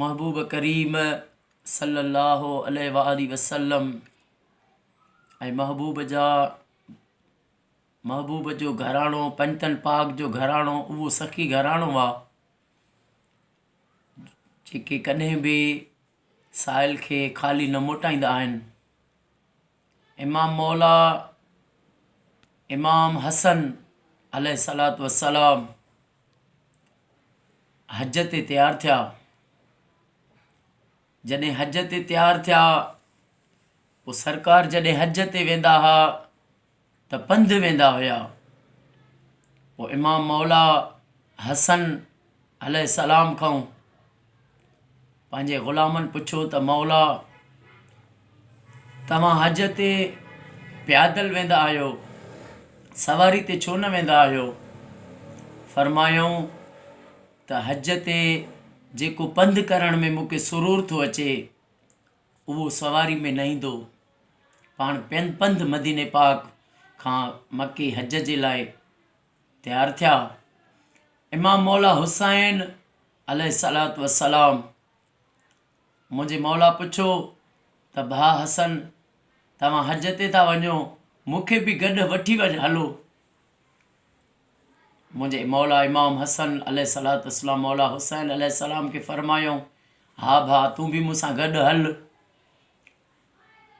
محبوب ڪريم صلّي اللّٰه عليه واٰله وسلّم ۽ محبوب جا محبوب جو گھراڻو پنجتن پاڪ جو گھراڻو اھو سخي گھراڻو آ جيڪي ڪڏھن به سائل کي خالي نه موٽائيندا آھن امام مولا امام حسن عليه الصلاة والسلام حج تي تيار ٿيا جڏهن حج تي تيار ٿيا پوء سرڪار جڏهن حج تي ويندا هئا ته پنڌ ويندا هيا پوء امام مولا حسن عليه السلام کانئون پنهنجي غلامن پڇيو ته مولا توهان حج تي پيادل ويندا آهيو سواري تي ڇو نه ويندا آهيو فرمايائون ته حج تي جيڪو پنڌ ڪرڻ ۾ مونکي سرور ٿو اچي اهو سواري ۾ نه ايندو، پاڻ پنڌ پنڌ مديني پاڪ کان مڪي حج جي لاء تيار ٿيا. امام مولا حسين عليه الصلاة والسلام منهنجي مولا پڇيو ته ڀاء حسن توهان حج تي ٿا وڃو مون کي به گڏ وٺي هلو. منهنجي مولا امام حسن عليه الصلوة والسلام مولا حسين عليه السلام کي فرمايو، ها ڀاء تون به مون سان گڏ هل.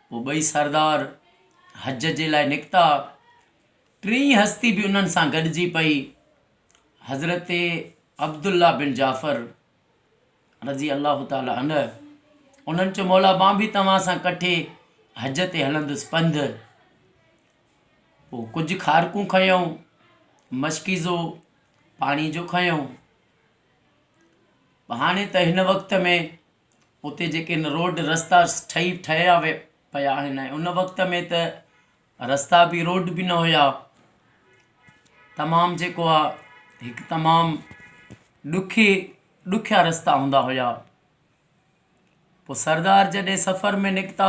پوء ٻئي سردار حج جي لاء نڪتا. ٽين هستي به انهن سان گڏجي پئي. حضرت عبدالله بن جعفر رضي الله تعالٰي عنه انهن چيو، مولا مان به توهان سان ڪٺي حج تي هلندس پنڌ. پوء ڪجهه کارڪون کنيائون، مشڪيزو پاڻي جو کنيائون. هاڻي ته هن وقت ۾ اتي جيڪي هن روڊ رستا ٺهي ٺهيا وي پيا آهن ۽ ان وقت ۾ ته رستا بي روڊ بي نه هيا تمام جيڪو آهي هڪ تمام ڏکي ڏکيا رستا هوندا هيا پوء سردار جڏهن سفر ۾ نڪتا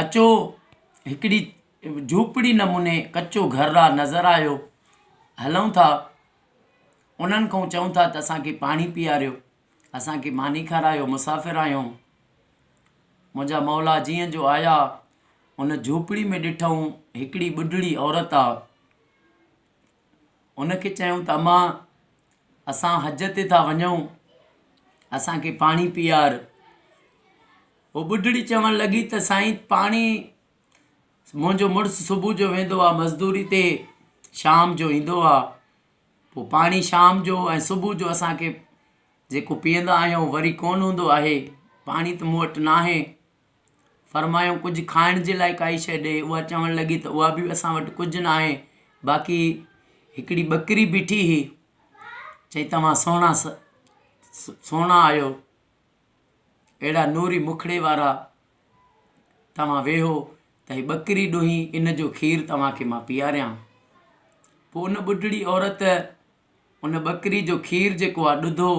اچو هڪڙي جهوپڙي نموني ڪچو گهر آ نظر آيو هلون ٿا انهن کان چئون ٿا ته اسانکي پاڻي پياريو اسانکي ماني کارايو مسافر آهيون منهنجا مولا جيئن جو آيا ان جهوپڙي ۾ ڏٺائون هڪڙي ٻڍڙي عورت آ انکي چئون ته امان اسان حج تي ٿا وڃون اسانکي پاڻي پيار هوء ٻڍڙي چوڻ لڳي ته سائين پاڻهي منهنجو مڙس صبح جو ويندو آهي مزدوري تي شام جو ايندو آهي پوء پاڻي شام جو ۽ صبح جو اسان کي جيڪو پيئندا آهيون وري ڪونه هوندو آهي پاڻي ته مون وٽ ناهي فرمايائون ڪجهه کائڻ جي لاء ڪائي شيء ڏي هوء چوڻ لڳي ته اها به اسان وٽ ڪجهه ناهي باقي هڪڙي ٻڪري بيٺي هئي چئي توهان سهڻا سهڻا آهيو اهڙا نوري مکڙي وارا توهان ويهو ته هي ٻڪري ڏوهين ان جو کير توهان کي مان پياريان. پوء ان ٻڍڙي عورت ان ٻڪري جو کير جيڪو آ ڏڌو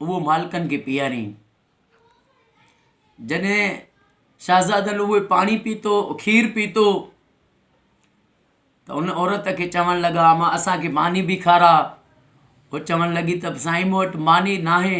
اهو مالڪن کي پياريائين. جڏهن شهزادن اهو پاڻي پيتو کير پيتو ته ان عورت کي چوڻ لڳا اما اسان کي ماني به کارا هو چوڻ لڳي ته سائين مون وٽ ماني ناهي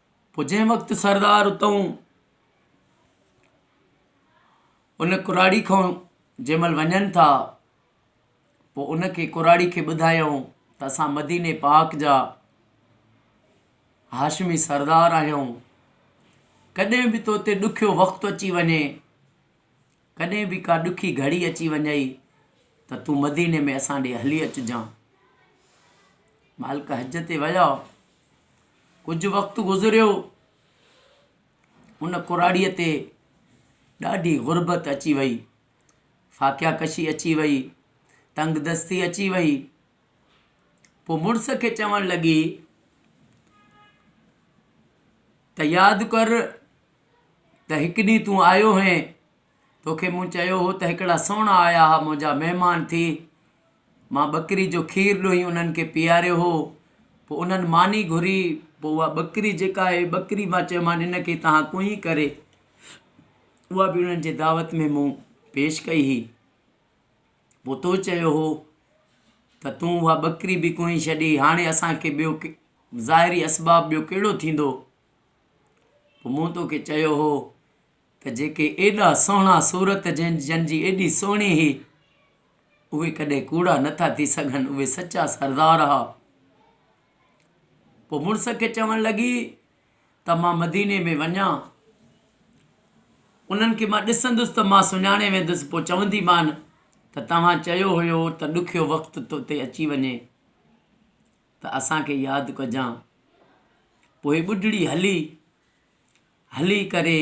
پوء جنهن وقت سردار اتئون ان ڪراڙي کان جنهن مهل وڃن ٿا پوء ان کي ڪراڙي کي ٻڌايائون ته اسان مديني پاڪ جا هاشمي سردار آهيون ڪڏهن به تو تي ڏکيو وقت اچي وڃي ڪڏهن به ڪا ڏکي گهڙي اچي وڃئي ته تون مديني ۾ اسان ڏي هلي اچجان مالڪ حج تي ويا ڪجهه وقت گذريو، ان ڪراڙيء تي ڏاڍي غربت اچي وئي، فاقيا ڪشي اچي وئي، تنگ دستي اچي وئي. پوء مڙس کي چوڻ لڳي ته ياد ڪر ته هڪ ڏينهن تون آيو هئين توکي مون چيو هو ته هڪڙا سهڻا آيا ها منهنجا مهمان ٿي. مان ٻڪري جو کير ڏوهي انهن کي پياريو هو. پوء انهن ماني گهري. پوء اها ٻڪري جيڪا آهي ٻڪري مان چيومان ان کي توهان ڪوئين ڪري. اها به انهن جي دعوت ۾ مون پيش ڪئي هئي. پوء تو چيو هو ته تون اها ٻڪري به ڪوئين ڇڏي. هاڻي اسان کي ٻيو ظاهري اسباب ٻيو ڪهڙو ٿيندو. پوء مون توکي چيو هو. ته جيڪي ايڏا سهڻا صورت جن جي ايڏي سهڻي هي، اهي ڪڏهن ڪوڙا نه ٿا ٿي سگهن، اهي سچا سردار ها. پوء مڙس کي چوڻ لڳي ته مان مديني ۾ وڃان، انهن کي مان ڏسندس ته مان سڃاڻي ويندس، پوء چونديمان ته توهان چيو هيو ته ڏکيو وقت تو تي اچي وڃي ته اسان کي ياد ڪجان. پوء ٻڍڙي هلي هلي ڪري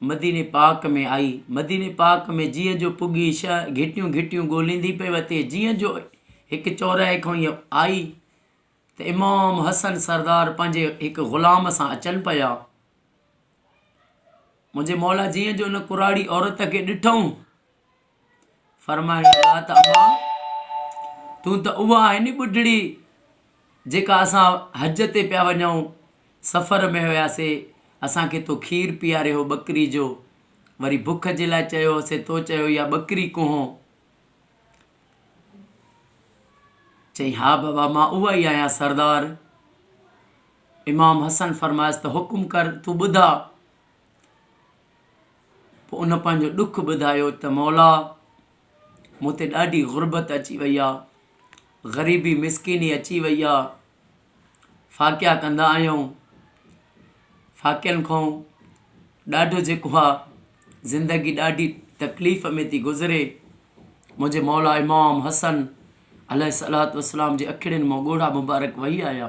مديني پاڪ ۾ آئي. مديني پاڪ ۾ جيئن جو پڳي شهه گهٽيون گهٽيون ڳوليندي پئي وتي جيئن جو هڪ چوراهي کان هيء آئي ته امام حسن سردار پنهنجي هڪ غلام سان اچن پيا. منهنجي مولا جيئن جو ان ڪراڙي عورت کي ڏٺئون فرمائڻ لڳا ته اما! تون ته اها آهين ني ٻڍڙي جيڪا اسان حج تي پيا وڃون، سفر ۾ هياسين، اسان کي تو کير پياريو هو ٻڪري جو، وري بک جي لاء چيو هوسين، تو چيو اها ٻڪري ڪونهون؟ چيائين ها بابا مان اها ئي آهيان سردار! امام حسن فرمايس ته حڪم ڪر تون ٻڌاء. پوء ان پنهنجو ڏک ٻڌايو ته مولا مون تي ڏاڍي غربت اچي وئي آ غريبي مسڪيني اچي وئي آ فاقيا ڪندا آهيون فاقيان کان ڏاڍو جيڪو آ زندگي ڏاڍي تڪليف ۾ ٿي گذري منهنجي مولا امام حسن عليه صلات وسلام جي اکڙين مون ڳوڙها مبارڪ وهي آيا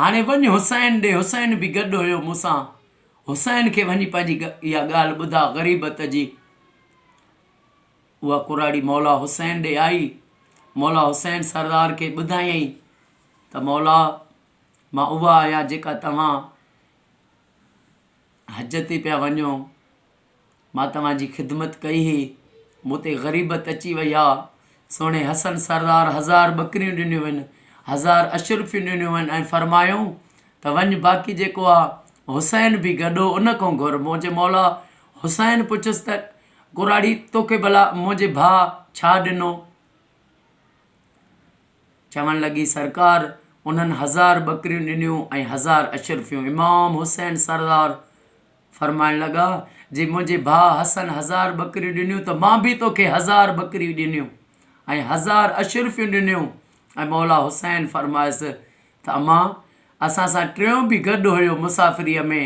هاڻي وڃ حسين ڏي، حسين به گڏ هيو مون سان، حسين کي وڃي پنهنجي اها ڳالهه ٻڌاء غريبت جي. اها ڪراڙي مولا حسين ڏي آئي، مولا حسين سردار کي ٻڌايائين ته مولا مان اها آهيان جيڪا توهان حج تي پيا وڃو، مان توهان جي خدمت ڪئي هئي، مون تي غريبت اچي وئي آ. سهڻي حسن سردار هزار ٻڪريون ڏنيون هن، هزار اشرفيون ڏنيون هن ۽ فرمايائون ته وڃ باقي جيڪو آ حسين به گڏو ان کان گهر. منهنجي مولا حسين پڇيس ته ڪراڙي توکي ڀلا منهنجي ڀاء ڇا ڏنو؟ چوڻ لڳي سرڪار انهن هزار ٻڪريون ڏنيون ۽ هزار اشرفيون. امام حسين سردار فرمائڻ لڳا، جي منهنجي ڀاء حسن هزار ٻڪريون ڏنيون ته مان به توکي هزار ٻڪريون ڏنيون ۽ هزار اشرفيون ڏنيون ۽ مولا حسين فرمايس ته امان اسان سان ٽيون به گڏ هيو مسافريء ۾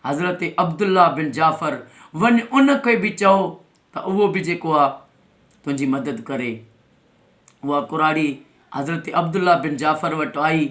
حضرت عبدالله بن جعفر وڃ ان کي به چئو ته اهو به جيڪو آ تنهنجي مدد ڪري اها ڪراڙي حضرت عبدالله بن جعفر وٽ آئي ۽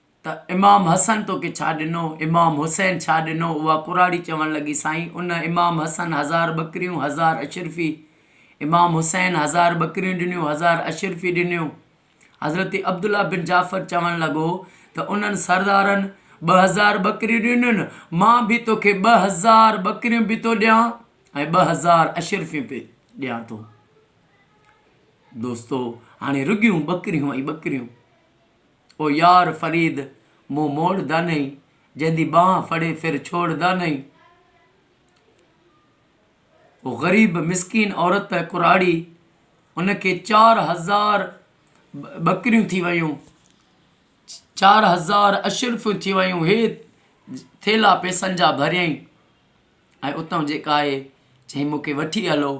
ته امام حسن توکي ڇا ڏنو؟ امام حسين ڇا ڏنو؟ اها ڪراڙي چوڻ لڳي، سائين! ان امام حسن هزار ٻڪريون، هزار اشرفي، امام حسين هزار ٻڪريون ڏنيون، هزار اشرفي ڏنيون. حضرت عبدالله بن جعفر چوڻ لڳو ته انهن سردارن ٻه هزار ٻڪريون ڏنيون، مان به توکي ٻه هزار ٻڪريون به ٿو ڏيان ۽ ٻه هزار اشرفيون به ڏيان ٿو. دوستو! هاڻي رڳيون ٻڪريون ۽ ٻڪريون! او يار فريد مون موڙدا نھين جنھن دي ٻانھ ڦڙي ڦر ڇوڙدا نھين او غريب مسڪين عورت ڪراڙي ان کي چار ھزار ٻڪريون ٿي ويون چار ھزار اشرفيون ٿي ويون ھي ٿيلا پئسن جا ڀريائين ۽ اتان جيڪا آھي چئين مون کي وٺي ھلو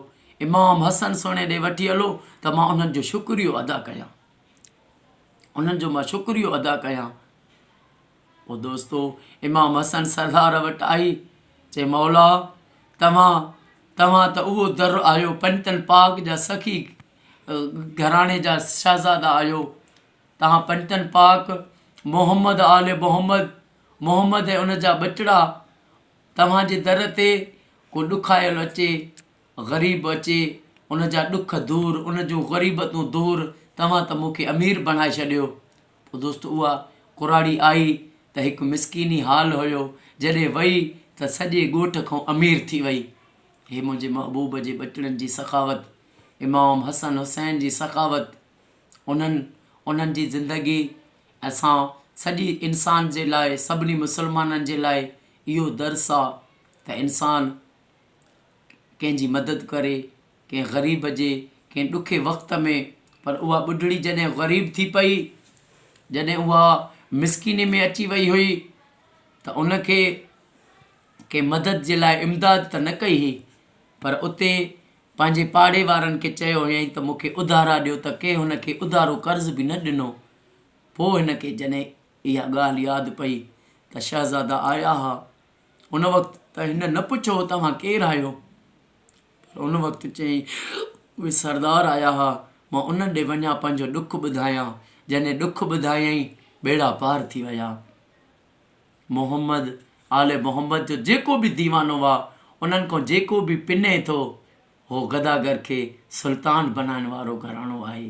امام حسن سھڻي ڏي وٺي ھلو ته مان انھن جو شڪريو ادا ڪيان انهن جو مان شڪريو ادا ڪيان. پوء دوستو امام حسن سردار وٽ آئي چي مولا توهان توهان ته اهو در آهيو پنتن پاڪ جا سخي گھراڻي جا شهزادا آهيو توهان پنتن پاڪ محمد آل محمد محمد ۽ ان جا ٻچڙا توهان جي در تي ڪو ڏکايل اچي غريب اچي ان جا ڏک دور ان جون غريبتون دور توهان ته مون کي امير بڻائي ڇڏيو پوء دوست اها ڪراڙي آئي ته هڪ مسڪيني حال هيو جڏهن وئي ته سڄي ڳوٺ کان امير ٿي وئي هي منهنجي محبوب جي ٻچڙن جي سخاوت امام حسن حسين جي سخاوت انهن انهن جي زندگي اسان سڄي انسان جي لاء سڀني مسلمانن جي لاء اهو درس آ ته انسان ڪنهن جي مدد ڪري، ڪنهن غريب جي، ڪنهن ڏکي وقت ۾، پر اها ٻڍڙي جڏهن غريب ٿي پئي، جڏهن اها مسڪيني ۾ اچي وئي هئي ته ان کي ڪنهن مدد جي لاء امداد ته نه ڪئي هئي، پر اتي پنهنجي پاڙي وارن کي چيو هيائين ته مون کي اڌارا ڏيو ته ڪنهن هن کي اڌارو قرض به نه ڏنو. پوء هن کي جڏهن اها ڳالهه ياد پئي ته شهزادا آيا ها. ان وقت ته هن نه پڇيو توهان ڪير آهيو؟ پر ان وقت چيائين اهي سردار آيا ها مان انهن ڏي وڃان پنهنجو ڏک ٻڌايان جنهن ڏک ٻڌايائين ٻيڙا پار ٿي ويا محمد آل محمد جو جيڪو به ديوانو هئا انهن کان جيڪو به پني ٿو هو گداگر کي سلطان بنائڻ وارو گهراڻو آهي